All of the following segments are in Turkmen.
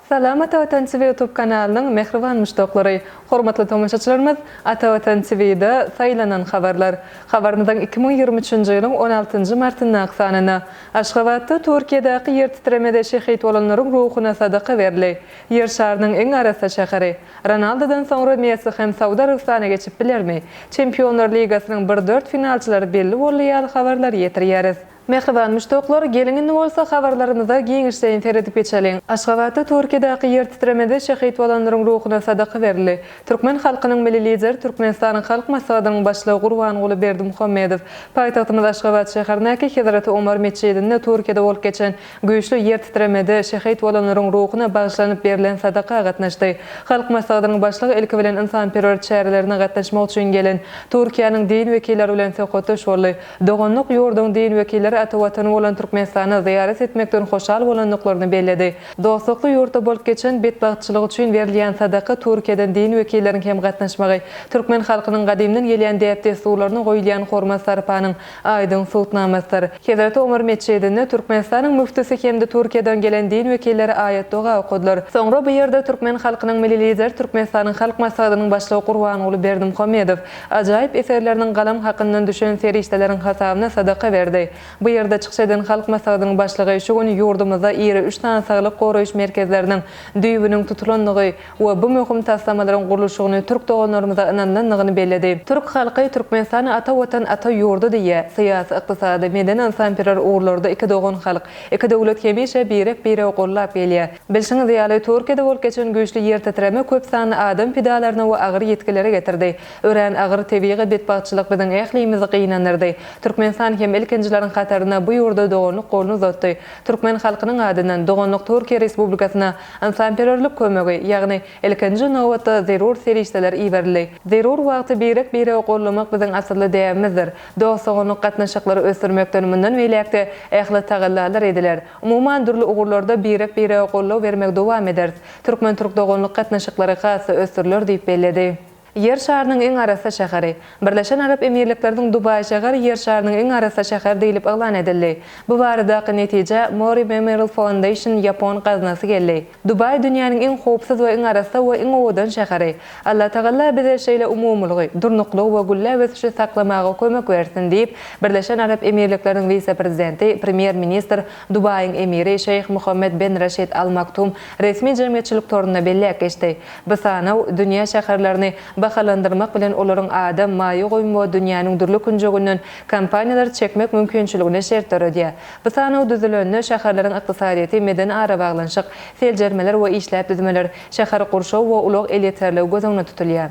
Salam Ata Watan TV YouTube kanalynyň mähriban muşdaklary! Hormatly tomaşaçylarymyz, Ata Watan TV-de Saýlanan habarlar! habarymyzyň iki müň ýigrimi üçünji ýylyň on altynjy martyndaky sanynda Aşgabatda Türkiýedäki ýertitremede şehit bolanlaryň ruhuna sadaka berli Ýer şarynyň iň arassa şäheri, Ronaldodan soňra Messi hem Saud Arabystana geçip bilermi? Çempionlar ligasynyň bir dört finalçylary belli boldy ýaly habarlary ýetirýäris. Mähriban muşdaklar, geliň indi bolsa habarlarymyza giňişleýin seredip geçeliň. Aşgabatda Türkiýedäki ýertitremede şehit bolanlaryň ruhuna sadaka berildi. Türkmen halkynyň Milli Lideri, Türkmenistanyň Halk Maslahatynyň Başlygy Gurbanguly Berdimuhamedow paýtagtymyz Aşgabat şäherindäki Hezreti Omar metjidinde Türkiýede bolup geçen Güýçli ýertitremede şehit bolanlaryň ruhuna bagyşlanyp berlen sadaka gatnaşdy. Halk Maslahatynyň Başlygy ilki bilen ynsanperwer çärelerine gatnaşmak üçin gelen Türkiýäniň din wekilleri bilen söhbetdeş boldy. Doganlyk ýurduň din wekilleri ata watany bolan Türkmenistana zyýarat etmekden hoşal bolandyklaryny belledi. Dostlukly ýurtda bolup geçen betbagtçylyk üçin berilýän sadaka Türkiýeden din wekilleriň hem gatnaşmagy, türkmen halkynyň gadymdan gelýän däp-dessurlaryna goýulýan hormat-sarpanyň Aýdyň subutnamasydyr. Hezreti Omar metjidinde Türkmenistanyň müftüsi hem-de Türkiýeden gelen din wekilleri aýat-doga okadylar. Soňra bu ýerde türkmen halkynyň Milli Lideri Türkmenistanyň Halk Maslahatynyň Başlygy Gurbanguly Berdimuhamedow ajaýyp eserleriniň galam hakyndan düşen serişdeleriň hasabyna sadaka berdi. Bu ýerde çykyş eden Halk Maslahatynyň Başlygy şu gün ýurdumyzda iri üç sany saglyk goraýyş merkezleriniň düýbüniň tutulandygy we bu möhüm taslamalaryň gurluşygyny türk doganlarymyza ynanandygyny belledi. Türk halky Türkmenistan ata Watan, ata ýurdy diýýär. Syýasy, ykdysady, medeni-ynsanperwer ugurlarda iki dogan halk, iki döwlet hemişe birek-biregi gollap gelýär. Bilşiňiz ýaly, Türkiýede bolup geçen güýçli ýertitreme köp sanly adam pidalaryna we agyr ýitgilere getirdi. Örän agyr tebigy betbagtçylyk biziň ählimizi gynandyrdy. Türkmenistan hem ilkinjileriň hatarynda bu ýurda doganlyk goluny uzatdy. Türkmen halkynyň adyndan, doganlyk Türkiýe Respublikasyna, Ynsanperwerlik kömegi, ýagny ilkinji nobatda zerur serişdeler iberildi. Zerur wagty birek-biregi gollamak biziň asylly däbimizdir. Dost-doganlyk gatnaşyklary ösdürmekden mundan beýläk-de ähli tagallalar ediler. Umuman, dürli ugurlarda birek-birege goldaw bermegi dowam ederis. Türkmen-türk doganlyk gatnaşyklary has-da ösdüriler diýip belledi. Ýer şarynyň iň arassa şäheri. Birleşen Arap Emirlikleriniň Dubaý şäheri Ýer şarynyň iň arassa şäheri diýlip yglan edildi. Bu baradaky netijä Mori Memorial Foundation ýapon gaznasy geldi. Dubaý dünýäniň iň howpsuz we iň arassa we iň owadan şäheri. Allatagalla bize şeýle umumylygy, durnuklygy we gülläp ösüşi saklamaga kömek bersin diýip, Birleşen Arap Emirlikleriniň wise-prezidenti, premýer-ministr, Dubaýyň emiri Şeýh Muhammed Ben Raşid Al Maktum resmi jemgyýetçilik torunda belläp geçdi. Bu sanaw dünýä şäherlerini bahalandyrmak bilen olaryň adam maýa goýum we dünýäniň dürli künjeginden kompaniýalary çekmek mümkinçiligine şert döredýär. Bu sanaw düzülende şäherleriň ykdysadyýeti, medeni arabaglanyşyk, seljermeler we işläp düzmeler, şäher gurşaw we ulag elýeterligi göz öňünde tutulýar.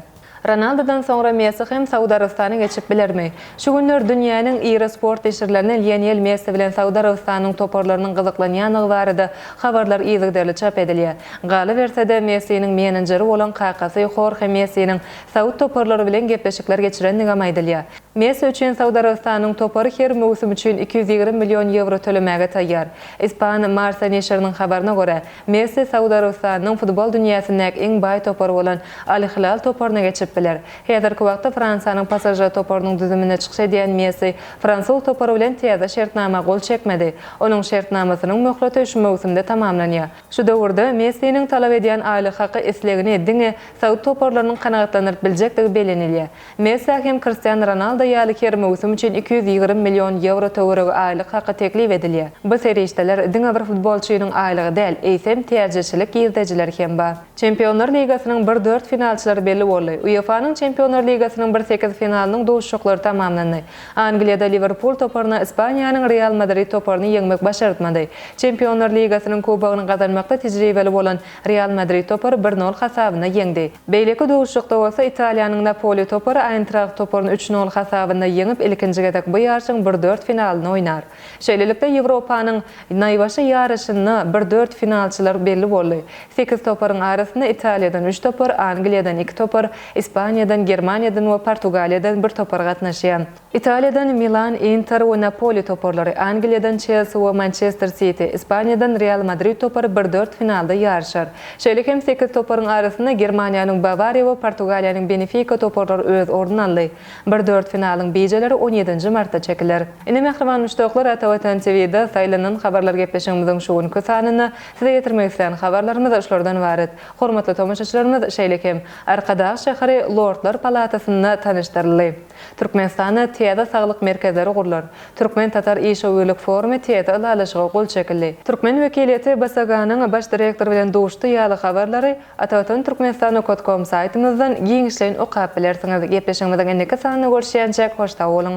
Ronaldudan soňra Messi hem Saud Arabystany geçip bilermi? Şu günler dünýäniň iri sport neşirlerinde Lionel Messi bilen Saud Arabystanynyň toparlarynyň gyzyklanýandygy barada habarlar yzygiderli çap edilýär. Galyberse-de, Messiniň menenjeri bolan kakasy Horhe Messiniň saud toparlary bilen gepleşikler geçirendigem aýdylýar. Messi üçin Saud Arabystanynyň topary her möwsüm üçin iki ýüz ýigrimi million ýewro tölemäge taýýar. Ispan Marca neşiriniň habaryna görä, Messi Saud Arabystanynyň futbol dünýäsindäki iň baý topar bolan Al-Hilal toparyna geçip biler. Häzirki wagtda Fransiýanyň PSŽ toparynyň düzüminde çykyş edýän Messi fransuz topary bilen täze şertnama gol çekmedi. Onuň şertnamasynyň möhleti şu möwsümde tamamlanýar. Şu döwürde Messiniň talap edýän aýlyk haky islegini diňe saud toparlarynyň kanagatlandyryp biljekdigi bellenilýär. Messä hem Kristian Ronaldo ýaly her möwsüm üçin iki ýüz ýigrimi million ýewro töweregi aýlyk haky teklip edilýär. Bu serişdeler diňe bir futbolçynyň aýlygy däl, eýsem täjirçilik girdejileri hem bar. Çempionlar ligasynyň bir dört finalçylary belli boldy. UEFA-nyň Çempionlar ligasynyň bir sekiz finalynyň duşuşyklary tamamlandy. Angliýada Liwerpul toparyna Ispaniýanyň Real Madrid toparyny ýeňmek başartmady. Çempionlar ligasynyň kubogyny gazanmakda tejribeli bolan Real Madrid topary bir nol hasabynda ýeňdi. Beýleki duşuşykda bolsa Italiýanyň Napoli topary Aýntragt toparyny üç nol hasabynda ýeňip, ilkinji gezek bu ýaryşyň bir dört finalyny oýnar. Şeýlelikde, Ýewropanyň naýbaşy ýaryşynda bir dört finalçylar belli boldy. Sekiz toparyň arasynda Italiýadan üç topar, Angliýadan iki topar, Ispaniýadan, Germaniýadan we Portugaliýadan bir topar gatnaşýar. Italiýadan Milan, Inter we Napoli toparlary, Angliýadan Çelsi we Mançester Siti, Ispaniýadan Real Madrid topary bir dört finalda ýaryşar. Şeýle hem sekiz toparyň arasynda Germaniýanyň Bawariýa we Portugaliýanyň Benefika toparlary öz ornuny aldy. Bir dört finalyň bijeleri on ýedinji martda çekiler. Ine mähriban muşdaklar Ata Watan TVda saýlanan habarlar gepleşigiňiziň şu günki sanynda size ýetirmek islän habarlarymyz şulardan ybarat. Hormatly tomaşaçylarymyz şeýle hem Arkadag şäheri Lordlar palatasynda tanyşdyryldy. Türkmenistanda täze saglyk merkezleri gurlar. Türkmen-tatar işewürlik forumy täze ylalaşyga gol çekildi. Türkmen wekiliýeti BSGA-nyň baş direktory bilen duşdy ýaly habarlary Atawatan Turkmenistan okat kom saýtymyzdan giňişleýin okap bilersiňiz. Gepleşigimiziň indiki sanynda görüşýänçäk hoş sag boluň.